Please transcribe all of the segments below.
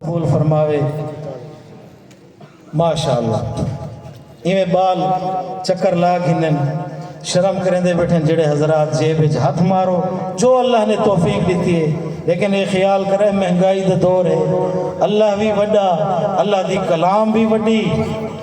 قبول فرماوے ماشاءاللہ ایویں بال چکر لا گھنن شرم کریندے بیٹھن جڑے حضرات جیب وچ ہتھ مارو جو اللہ نے توفیق دیتی ہے لیکن اے خیال کرے مہنگائی دے دور ہے اللہ وی وڈا اللہ دی کلام وی وڈی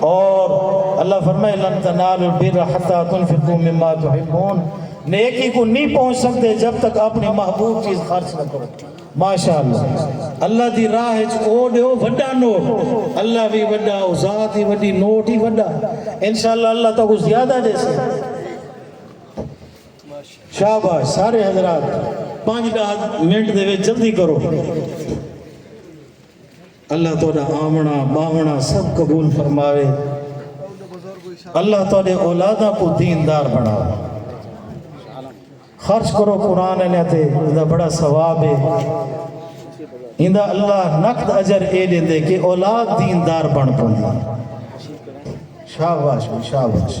اور اللہ فرمائے لن تنالوا البر حتى تنفقوا مما تحبون نیکی کو نی پہنچ سکدے جب تک اپنے محبوب چیز خرچ نہ کرو ماشاءاللہ اللہ دی راہ اچ او ڈیو وڈا نوٹ اللہ وی وڈا او ذات ہی وڈی نوٹ ہی وڈا انشاءاللہ اللہ تہاکوں زیادہ ڈیسے شاباش سارے حضرات پانچ ڈاہ منٹ دے وچ جلدی کرو اللہ تہاڈا آونا باونا سب قبول فرماوے اللہ تہاڈے اولاداں کو دین دار بناوے خرچ کرو قرآن علیہ تے اندہ بڑا ثواب ہے اندہ اللہ نقد اجر اے لے دے کہ اولاد دین دار بن پوندی شاباش شاباش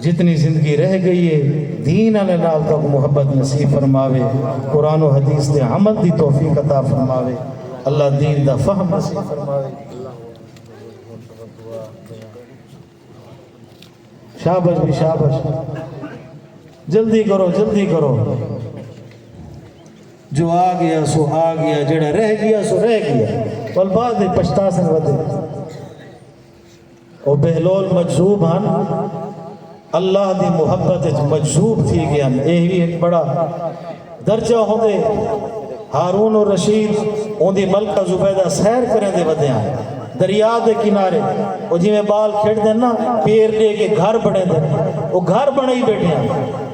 جتنی زندگی رہ گئی ہے دین آلے نال توک محبت نصیب فرماوے قرآن و حدیث دے عمل دی توفیق عطا فرماوے اللہ دین دا فہم نصیب فرماوے شابش بھی شابش جلدی کرو جلدی کرو جو آ گیا سو آ گیا جڑا رہ گیا سو رہ گیا پل بعد پچھتا سن ودے او بہلول مجذوب ہن اللہ دی محبت اچ مجذوب تھی گیان اے وی ہک بڑا درجہ ہوندے ہارون الرشید اوندی ملکہ زبیدہ سیر کریں دے ودیاں دریا دے کنارے او جویں بال کھیڈ دے نا پیر ڈے کے گھر بنے دے او گھر بنے ہی بیٹھے ہیں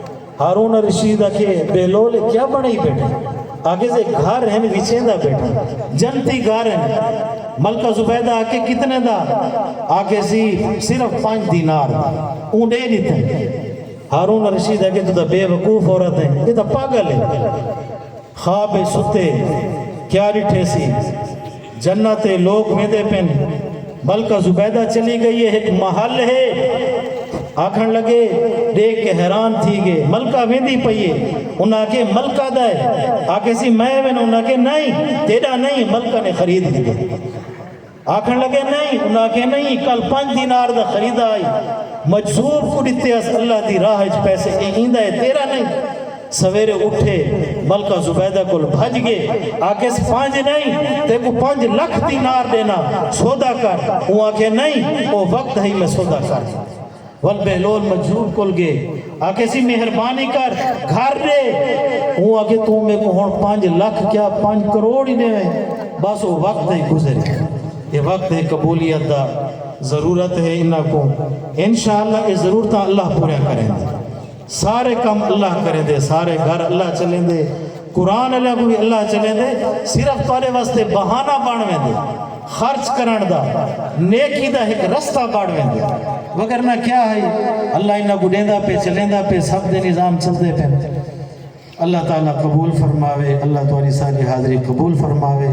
ہارون الرشید آکھیے بہلول اے کیا بݨائی بیٹھے آکھیس اے گھر ہن وچیندا بیٹھاں جنتی گھر ہن ملکہ زبیدہ آکھیے کتنے دا آکھیسی صرف پنج دینار دا اوں ݙے ݙتے ہارون الرشید آکھیے توں تاں بے وقوف عورت ایں اے تاں پاگل اے خواب اچ ستے کیا ݙٹھیسی جنت ہے لوک ویندے پن ملکہ زبیدہ چلی گئی ہے ہک محل ہے آکھن لگے دیکھ کے حیران تھی گئے ملکہ ویندی پئی ہے انہاں آکھے ملکہ دا ہے آکھے سی میں وینا انہاں آکھے نہیں تیڈا نہیں ملکہ نے خرید لیے آکھن لگے نہیں انہاں آکھے نہیں کل پنج دینار دا خریدا آئی مجذوب کو ڈتے اس اللہ دی راہ اچ پیسے اے ایندا ہے تیرا نہیں سویرے اٹھے ملکہ زبیدہ کول بھج گئے آکھیس پانجھ نئیں تیکوں پانجھ لکھ دینار ڈینا سودا کر اوں آکھیا نئیں او وقت ہئی میں سودا کر ول بہلول مجذوب کول گئے آکھیسی مہربانی کر گھر ڈے اوں آکھیا توں میکوں ہن پانجھ لکھ کیا پانجھ کروڑ ہی ڈیویں بس او وقت ہئی گزر گیا اے وقت ہے قبولیت دا ضرورت ہے انہاں کوں انشاءاللہ اے ضرورتاں اللہ پوریاں کریندے۔ سارے کم اللہ کریں دے سارے گھر اللہ چلیں دے قرآن اللہ کو بھی اللہ چلیں دے صرف تارے واسطے بہانہ بانویں دے خرچ کرن دا نیکی دا ایک رستہ بانویں دے وگرنا کیا ہے اللہ انہا کو دیں دا پہ چلیں دا پہ سب دے نظام چل دے پہ اللہ تعالیٰ قبول فرماوے اللہ تعالیٰ ساری حاضری قبول فرماوے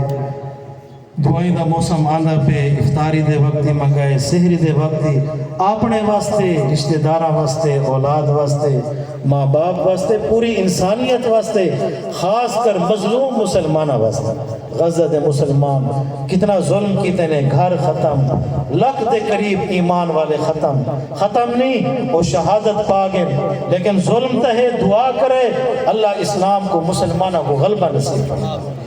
دعائیں دا موسم آندا پئے افطاری دے وقت دی منگائے سحری دے وقت دی آپنڑے واسطے رشتہ داراں واسطے اولاد واسطے ماں باپ واسطے پوری انسانیت واسطے خاص کر مظلوم مسلماناں واسطے غزہ دے مسلمان کتنا ظلم کیتے نے گھر ختم لکھ دے قریب ایمان والے ختم ختم نی او شہادت پا گن لیکن ظلم تہے دعا کرے اللہ اسلام کوں مسلماناں کوں غلبہ نصیب فرماوے۔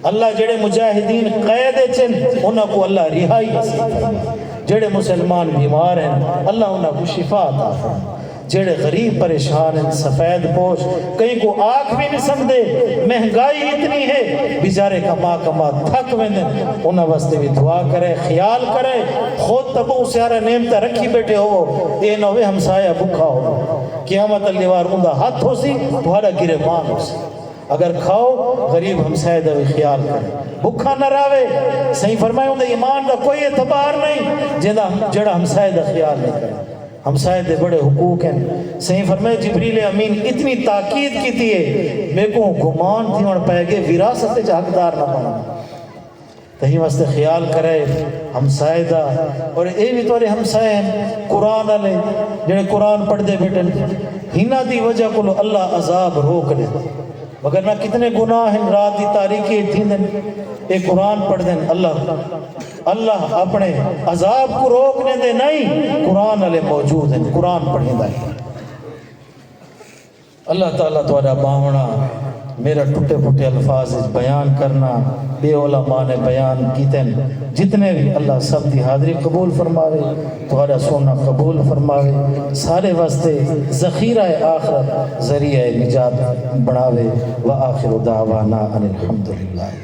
اللہ جیڑھے مجاہدین قید اچ ہن انہاں کوں اللہ رہائی نصیب فرمائے جیڑھے مسلمان بیمار ہیں اللہ انہاں کو شفا عطا فرمائے جیڑھے غریب پریشان ہیں سفید پوش کہیں کو آکھ بھی نہیں سکتے مہنگائی اتنی ہے بیچارے کما کما تھک ویندے انہاں واسطے بھی دعا کرے خیال کرے خود تبو سیارہ نعمت رکھی بیٹھے ہو اے نہ ہوے ہمسایا بھکا ہو قیامت اللہ وار اوندا ہاتھ ہو سی تہاڈا گرے مان ہو سی اگر کھاؤ غریب ہمسائے دا وی خیال کرے بکھا نہ راوے سئیں فرمائے اوندے ایمان دا کوئی اعتبار نہیں جیندا جیڑھا ہمسائے دا خیال نہیں کرے ہمسائے دے بڑے حقوق ہن سئیں فرمائے جبریل امین اتنی تاکید کیتی ہے میکوں گمان تھیوݨ پئے گے وراثت وچ حقدار نہ بݨاں تہیں واسطے خیال کرئے ہمسائے دا اور اے وی تہاڈے ہمسائے ہن قرآن آلے جیہڑے قرآن پڑھدے بیٹھن ہنہاں دی وجہ کولو اللہ عذاب روک ڈیندے مگر نہ کتنے گناہ ہن رات دی تاریکی اچ تھیندن اے قرآن پڑھدن اللہ اللہ اپنے عذاب کو روک ڈیندے نئیں قرآن آلے موجود ہن قرآن پڑھیندہ ہن اللہ تعالی تہاڈا باہنڑا میرا ٹھٹے پھٹے الفاظ اچ بیان کرنا بے اولا ماں نے بیان کیتن جتنے وی اللہ سب دی حاضری قبول فرماوے تہاڈا سننا قبول فرماوے سارے واسطے ذخیرہ آخرت ذریعہ نجات بناوے واخر دعوانا ان الحمدللہ رب العالمین۔